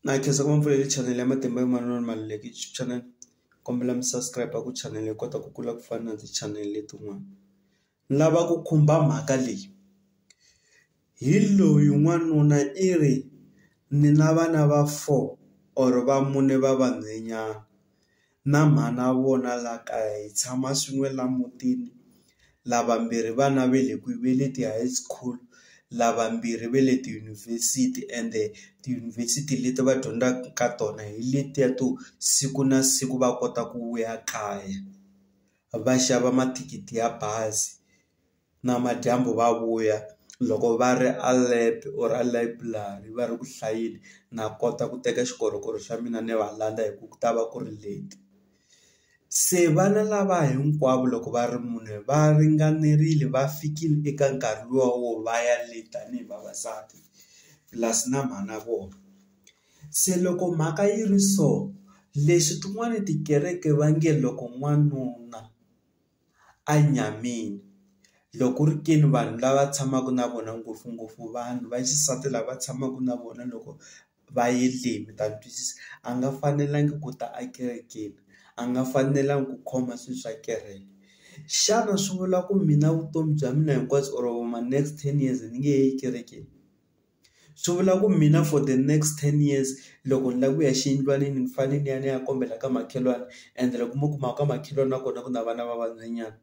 Na khensa ngopfu leyi channel ya matimba yo manana ni Maluleke YouTube channel kombela mi subscribe ku channel hi kota ku kula ku fana na ti channel letin'wana ni lava ku khumba mhaka leyi hi loyi n'wanuna i ri ni na vana va four or va mune va vanhwanyana. na mhana wa vona laha kaya hi tshama swin'we laha mutini lavambirhi vana ve le kwihi ve le ti-high school lavambirhi ve le tiyunivhesiti ende tiyunivhesiti leti va dyondzaka ka tona hi letiya to siku na siku va kota ku vuya kaya va xava mathikithi ya bazi. namadyambu va vuya loko va ri a lab or a layiburari va ri ku hlayeni na kota ku teka xikorokoro xa mina ni va landza hi ku ku ta va ku ri late se vana lava hinkwavo loko va ri mune va ringanerile va fikile eka nkarhi luwa wo va ya late tanihi vavasati plus na mhana vona se loko mhaka yi ri so leswi tin'wani tikereke va nge loko n'wanuna a nyameni loko ku ri ke ni vanhu lava tshamaka na vona ngopfungopfu vanhu va xisati lava tshamaka na vona loko va ye le mi ta ni twisisa a nga fanelangi ku ta a kerekeni a nga fanelangi ku khoma swilo swa kereke xana swi vula ku mina vutomi bya mina hinkwabyo or ma next ten years ni nge he yi ekerekeni. Swi vula ku mina for the next ten years loko ni lava ku ya xiyindlwanini ni fanele ni ya ni ya kombela ka makhelwani and loko mo kuma ka makhelwani na kona ku na vana va vanhwanyana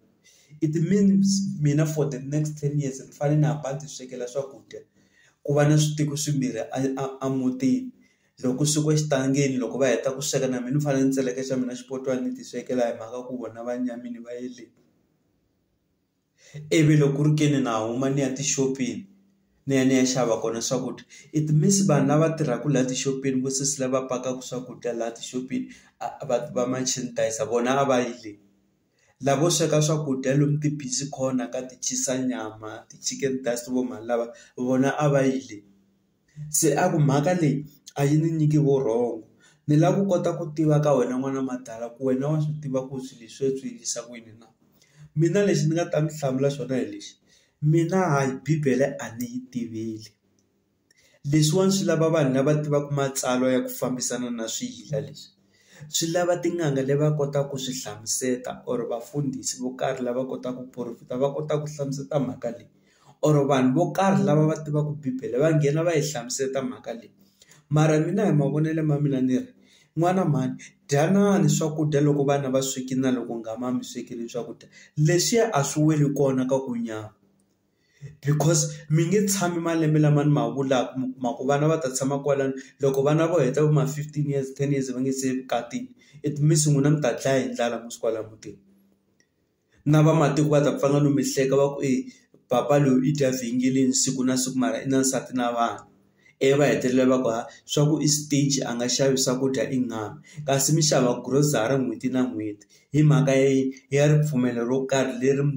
it means mina for the next ten years ni fanele ni hamba ni ti swekela swakudya ku va na switiko swimbirhi a a a mutini loko ku swekiwa xitangeni loko va heta ku sweka na mina ni fanele ni tseleka xa mina xipotwana ni ti swekela hi mhaka ku vona va nyamile va yele. ivi loko ku ri ke ni na huma ni ya tixopeni ni ya ni ya xava kona swakudya it means vanhu lava tirhaka laha tixopeni vo sesi lava pakaka swakudya laha tixopeni a va va machinisayizi vona a va yi le lavo sweka swakudya lomu ti busy corner ka ti cheese nyama ti chicken dust vo mhani lava vona a va yi le. Se a ku mhaka leyi a yi ni nyiki vurhongo ni lava ku kota ku tiva ka wena n'wana madala ku wena wa swi tiva ku swilo leswi swi endlisa ku yini na? Mina lexi ni nga ta mi hlamula xona hi lexi, mina hayi bibele a ni yi tiveli leswiwani swi lava vanhu lava tivaka matsalwa ya ku fambisana na swiyila leswi. swi lava tin'anga leti va kotaka ku swi hlamusela or vafundhisi vo karhi lava kotaka ku profit-a va kota ku hlamusela mhaka leyi or vanhu vo karhi lava va tivaka bibele va nghena va yi hlamusela mhaka leyi mara mina hi mavonelo ma mina ni ri n'wana mhani dyanana swakudya loko vana va swekile na loko u nga mami swekile swakudya leswiya a swi weli kona ka ku nyama. because mi nge tshami malembe lama ni ma vulaka mi kuma ku vana va ta tshama kwalano loko vana vo heta vo ma fifteen years ten years va nga se evukatini it means n'wina mi ta dlaya hi ndlala musi kwala mutini na vamatiko va ta pfanga no mi hleka va ku e papa loyi i dya vhengeleni siku na siku mara i na nsati na vana. ivi va hetelela va ku ha swa ku i stingy a nga xavi swakudya i ngani kasi mi xava grocery n'hweti na n'hweti hi mhaka ya yini ya ripfumelo ro karhi leri mi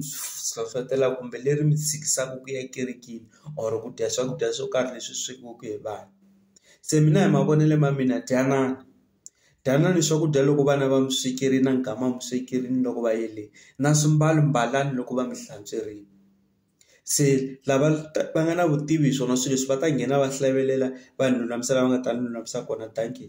hlohlotelaka kumbe leri mi tshikisaka ku ya ekerekeni or ku dya swakudya swo karhi leswi swekiweke hi vanhu se mina hi mavonelo ma mina dyanana dyanani swakudya loko vana va mi swekerile na mikama mi swekerile loko va yele na swimbalo mbalani loko va mi hlantswerile. se lava va nga na vutivi hi swona swilo leswi va ta nghena va hlavelela vanhu lulamisela va nga ta ni lulamisela kona dankie.